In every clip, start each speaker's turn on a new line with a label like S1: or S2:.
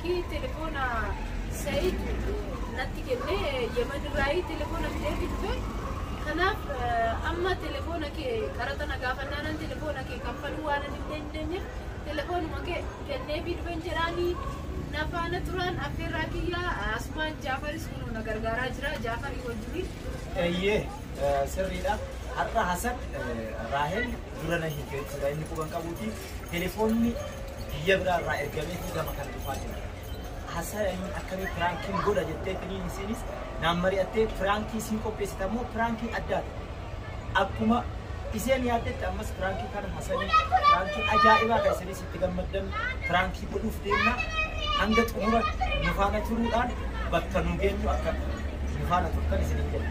S1: Kii telefoona Said natti kenne Yemen irraayi telefoona fidee dhufe. Kanaaf amma telefoona kee qaraxa na gaafannaanan telefoona kee kaffaluu waan hin dandeenye telefoonuma kee kenneefii dhufen jedhaanii na faana turaan affeerraa kiyya asumaan Jaafaris kun na gargaaraa jira Jaafarii wajjiniin. Eeyyee sirriidha.
S2: Har'a Hasan Raahel dura na hiikee jechuudha. Inni quban qabuuti. telefoonni biyya biraa irraa ergameetii gama kana dhufaa jira. Haasaya inni akkamii piraankiin godha jettee finiin isiinis naan mari'attee piraankii siin qopheessite ammoo piraankiin addaati. Akkuma isheen yaaddetti ammas piraankii kana hasanii piraankii ajaa'ibaa kan isinis itti gammaddan piraankii godhuuf deemna. Hanga xumura nu faana turuudhaan bakka nu geenyu akka nu faana turtan isiniin jedha.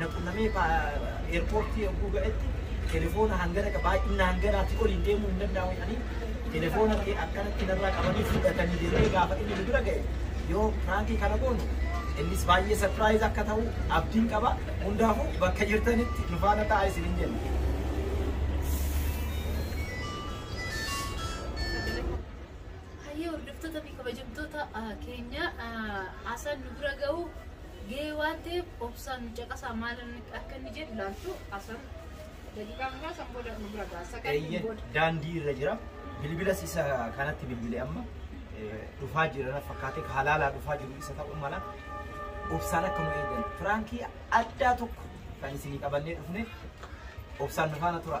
S2: na qunnamee eerpoortii yogguu ga'etti telefoona hangana qaba baay'inna hanganaatti oliin deemuu hin danda'amu jedhanii telefoona kee akkanatti narraa qabanii fudhatanii jedhee gaafa inni nu bira ga'e yoo piraankii kana goonu innis baay'ee sarpiraayiz akka ta'u abdiin qaba hundaafuu bakka jirtanitti nu faana ta'a isin hin jenna.
S1: Hayyee hordoftoota fi kabajamtoota keenya asaan nu bira ga'u gahee waan ta'eef obsaan nu caqasaa maal akka inni jedhu laaltu asan daqiiqaa muraasan booda nu bira ga'a sakantiin Eeyyee booda. daandii irra jira.
S2: Bilbilas isa kanatti bilbile amma eh, dhufaa jira na fakkaatee halaalaa dhufaa jiru isa ta'uu mala. Obsaan akka nu eegan. Firaankii addaa tokko kan isinii qabannee dhufne obsaan nu faana tura.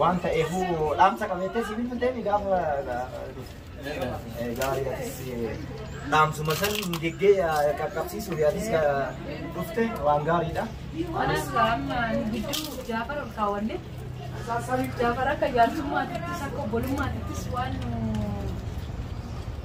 S2: Waan ta'eefuu dhaamsa qabeettee si bilbilteemi gaafa gaarii atis dhaamsuma san geggee qaqqabsiisuuf atis dhufte waan gaariidha. Anis
S1: amma gidduu Jaafar ol kaawwanne. Jaafar akka jaarsummaatittis akka obbolummaatittis waan nu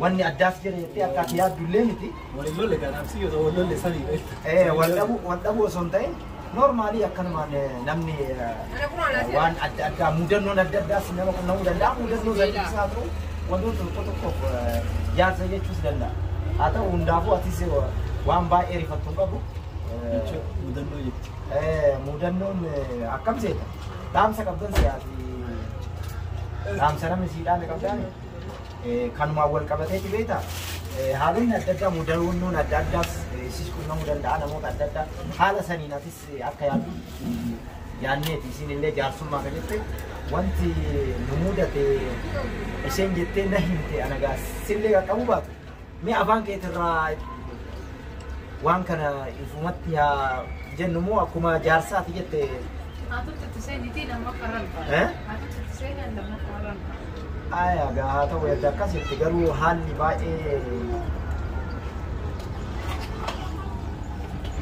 S2: Wanni addaas jedhe jettee akka ati yaaddu illee miti. Wal hin lolle kanaaf si
S3: yoo wal lolle sanii beekta. Eh, wal dhabuu
S2: wal dhabuu osoo hin ta'in noormaalii akkanumaan eh, namni eh, waan adda addaa mudannoon adda addaas nama qunnamuu danda'a mudannoo sadiis haa ta'u wantoota tokko tokkoof eh, jaarsa jechuus danda'a. Haa ta'u hundaafuu atis eh, waan baay'ee rifattu hin qabu. Eh, Jechuun
S3: mudannoo jechuudha. eh, Mudannoon
S2: eh, akkam seeta? Dhaamsa qabdan siyaasi. Dhaamsa namni siidhaan qabdaan. Kanumaan wal qabateeti beektaa haalonni adda addaa mudannoon adda addaas sis qunnamuu danda'a namoota adda addaa haala saniin atis akka yaaddu yaanneeti isin illee jaarsummaa ka jette wanti nu mudate isheen jettee na himte anagaa sillee qaqqabu baatu Mee afaan keetirraa waan kana ifumatti haa jennu moo akkuma jaarsaati jette Haatutti itti seenitii lammaffaa irra hin Eh? ta'a. Haatutti itti seenan lammaffaa irra hin ta'a. aayaa gaa haa ta'u erga akkasitti garuu haalli baay'ee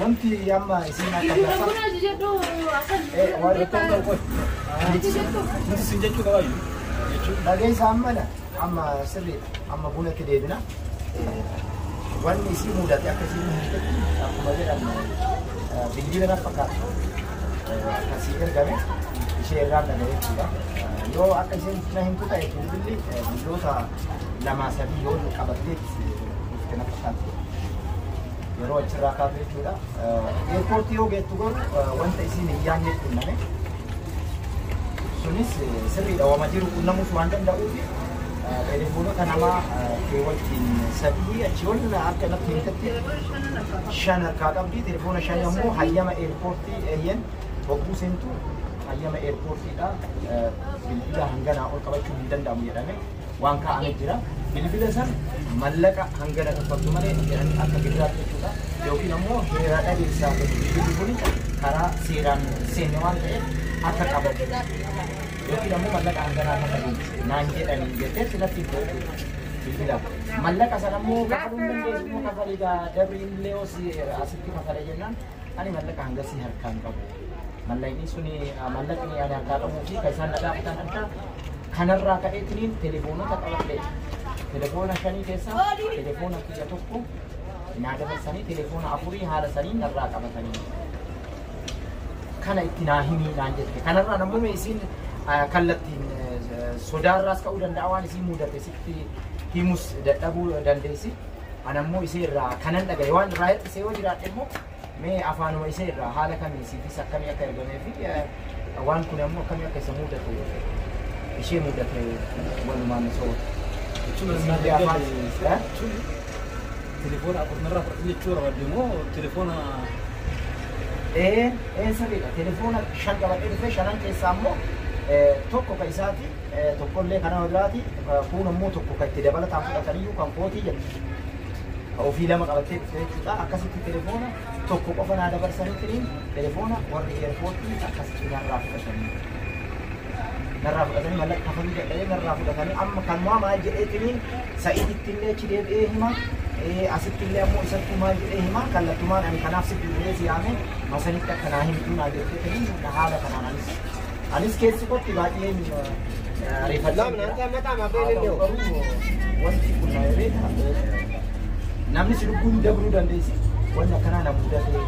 S2: Wanti amma isin akka Dhageessa ammana amma sirriidha. Amma bunatti deebina. Wanni isii mudate akka isiin hojjetu akkuma jedhamu bilbila na fakkaata. Akkasii ergame ishee irraan dhaga'e jechuudha. Yoo akka isiin na himtu ta'e bilbilli biyyoota lamaa sadii yoo qabatteetti dhufte na fakkaata. yeroo achirraa kaatu jechuudha. Eerpoortii yoo geettu garuu wanta isiin hin yaadne qunname. Sunis sirriidha wama jiru qunnamuus waan danda'uuf telefoonota namaa keewwatiin sadii achi ol akka natti himtetti shan harkaa qabdi. Telefoona shan ammoo hayyama eerpoortii eeyyen bobbuu seentu hayyama eerpoortiidha. Bilbila hanganaa ol qabachuu hin danda'amu jedhame. waan kaa'ame jira. Bilbila san mallaqa hangana kaffaltu malee jedhanii akka gidiraatti jechuudha. Yookiin ammoo heeraa dhabeessaa ta'e bilbilli kun karaa seeraan seenne waan ta'eef akka qabatu yookiin ammoo mallaqa hanganaa kaffalu naan jedhanii jettee silatti hin ta'u bilbila. Mallaqa sana ammoo kafaluu hin dandeessu immoo kafaliidha. Dabriin illee hoos asitti kafala jennaan ani mallaqa hangasii harkaan qabu. Mallaqni sun mallaqni ani harkaa qabuu fi kan isaan nagaa fitan adda kanarraa ka'eetiniin telefoonota qabadhee telefoona shanii keessaa telefoona kiyya tokko naa dabarsanii telefoona afurii haala saniin narraa qabatanii kana itti naa himii naan jette kanarraa namuu isiin kallattiin sodaarraas ka'uu danda'a waan isiin mudate sitti himus dadhabuu dandeessi anammoo isii irraa kanan dhagaye waan irraa hir'isee yoo jiraadhe immoo Mee afaanuma isee irraa haala kamiin siifis akkamii akka ergamee fi waan kun ammoo akkamii akka isa muudate ishee muudate walumaan osoo jechuun siifii afaan
S3: jechuun telefoona akkuma irraa fudhatan jechuu barbaadde moo telefoona ee
S2: ee sirriidha telefoona shan qabadhee dhufee shanan keessaa ammoo tokko ka isaati tokkollee kan nama biraati kuun ammoo tokko ka itti dabalataan fudhataniyyuu kan kootii jedhu Ka ofii lama qabattee dhufte jechuudha. Akkasitti telefoona tokko qofa naa dabarsanii tiriin telefoona warri eerpoortii akkasitti narraa fudhatanii. Narraa fudhatanii mallaqa kafaluu dadhabee narraa fudhatanii amma kanumaa maal jedhee tiriin sa'iititti illee achi deebi'ee hima. Eh, Asitti illee ammoo isatti maal jedhee hima kallattumaan ani kanaaf si bilbilee si yaame masanitti akka naa himtuu naa jettee tiriin haala kanaan anis Anis keessi kotti baay'een ariifadha. Wanti kun na ereeta. Namni si lubbuun dabruu dandeessi. Wanni akkanaa na mudatee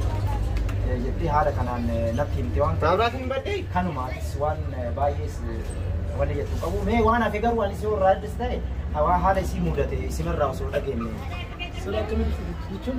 S2: jettee haala kanaan natti himte waan ta'eef. Kanumaatis waan baay'ees wanni jettu qabu. Mee waan hafe garuu anis yoo irraa addis ta'e haala isii mudate isinirraa osoo dhageenye. Sura
S3: akkamitti jechuun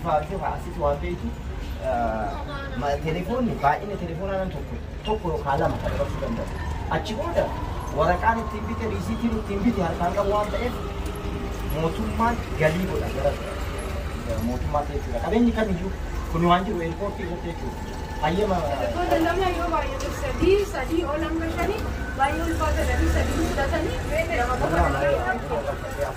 S2: ifaajuu haa asitti waan beektu telefoonni baay'ina telefoonaa nan tokko tokko yookaan lama kan dabarsuu danda'u. Achi booda waraqaan ittiin bite riisiitiin ittiin bite harkaan qabu waan ta'eef mootummaan galii godha gara mootummaa jechuudha. Qabeenyi kamiyyuu kun waan jiru eerpoortii irratti jechuudha. Hayyama Wantoota lama
S1: yoo baay'ate sadii sadii ol hanga shanii baay'ee ulfaata sadii sadii fudhatanii lama qofa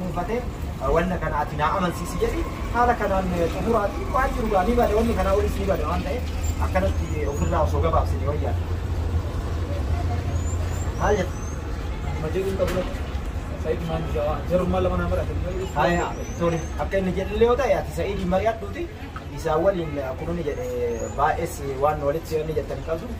S2: dhuunfate wanna kana ati naa amansiisi jedhi haala kanaan xumuraati waan jiru gaa ni bada wanni kanaa olis ni bada waan ta'e akkanatti ofirraa osoo gabaabsine wayyaa maal jetta Nama
S3: jedhuun qabu lafa. Sa'iid maan jaa- jarummaa lama naa marate. Haya, tole
S2: akka inni jedhullee yoo ta'e ati sa'iidii mari'adhuuti isaa waliin akkuma inni jedhe baay'ees waan walitti seenne jettan hin qabdu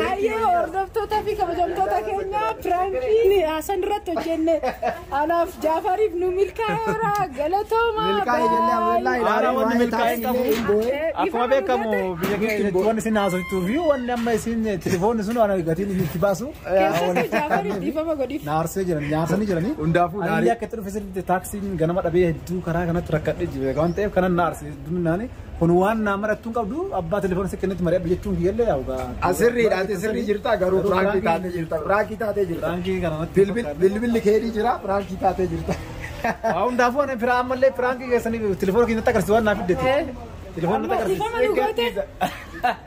S1: Hayyee hordoftootaa fi kabajamtoota keenya piraankiin haasan irratti hojjenne anaaf jaafariif nu milkaa'eera galatooma. Haala
S2: wanni milkaa'ee hin
S3: qabu. Akkuma beekamu biyya keenya keessatti wanni isin haasoftuu fi wanni amma isin telefoonni sun waan gatiin isin itti baasu. Keessatti jaafariif
S1: dhiifama godhiif. Naarsee jiran nyaarsanii
S3: jiranii. Hundaafuu Ani naarii. akka itti dhufe
S2: sirriitti
S3: taaksiin ganama dhabee hedduu karaa kanatti rakkadhee jiru waan ta'eef kanan naarse hedduminaanii. Kun waan naa marattuu hin qabdu abbaa telefoona si kennetti mari'adhu jechuun kiyyallee yaa dhugaa. Asirriidha ati sirrii
S2: jirta garuu piraankii taatee jirta piraankii taatee jirta. Piraankii kana natti hin Bilbil- fakkaatu.
S3: Bilbilli keedii
S2: jira piraankii taatee jirta. Waa hundaafuu
S3: ani firaa ammallee piraankii keessanii telefoona keessatti agarsiisu waan naa fiddeeti. Telefoona natti agarsiisu. Dhiifama nu goote.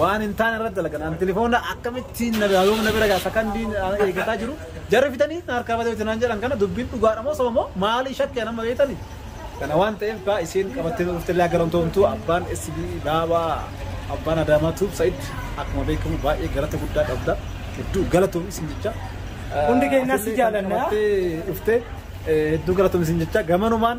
S3: waan hin taane irratti dalagan ani telefoona akkamittiin na bira yoom na bira gaasa kan diin eeggataa jiru jarri fitanii na harkaa badee hojjetan jedhan kana dubbiin dhugaadha moo sobamoo maalii shakkee nama beektanii kana waan ta'eef kaa isiin qabattee dhuftee illee garamtoomtuu abbaan SB daabaa abbaan adaamaa tuub sa'id akkuma beekamu baay'ee galata guddaa qabda hedduu galatoom isin jecha Hundi keenyas
S2: si jaalanna. dhuftee
S3: hedduu galatoom isin jecha gamanumaan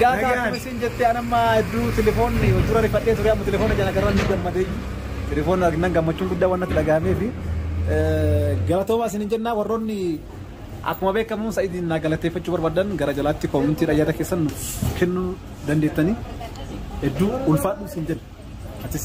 S3: Gaata Nagaan. akkuma isin jette an amma hedduu telefoonni dura rifadhee ture amma telefoona jala garaan ni gammadee telefoona arginan gammachuun guddaa waan natti dhagahamee fi galatoomaa isin hin jennaa warroonni akkuma beekamu sa'idiin naa galateeffachuu barbaadan gara jalaatti koomintiidha yaada keessan nuuf kennuu dandeettanii hedduu ulfaadhu isin jenna atis.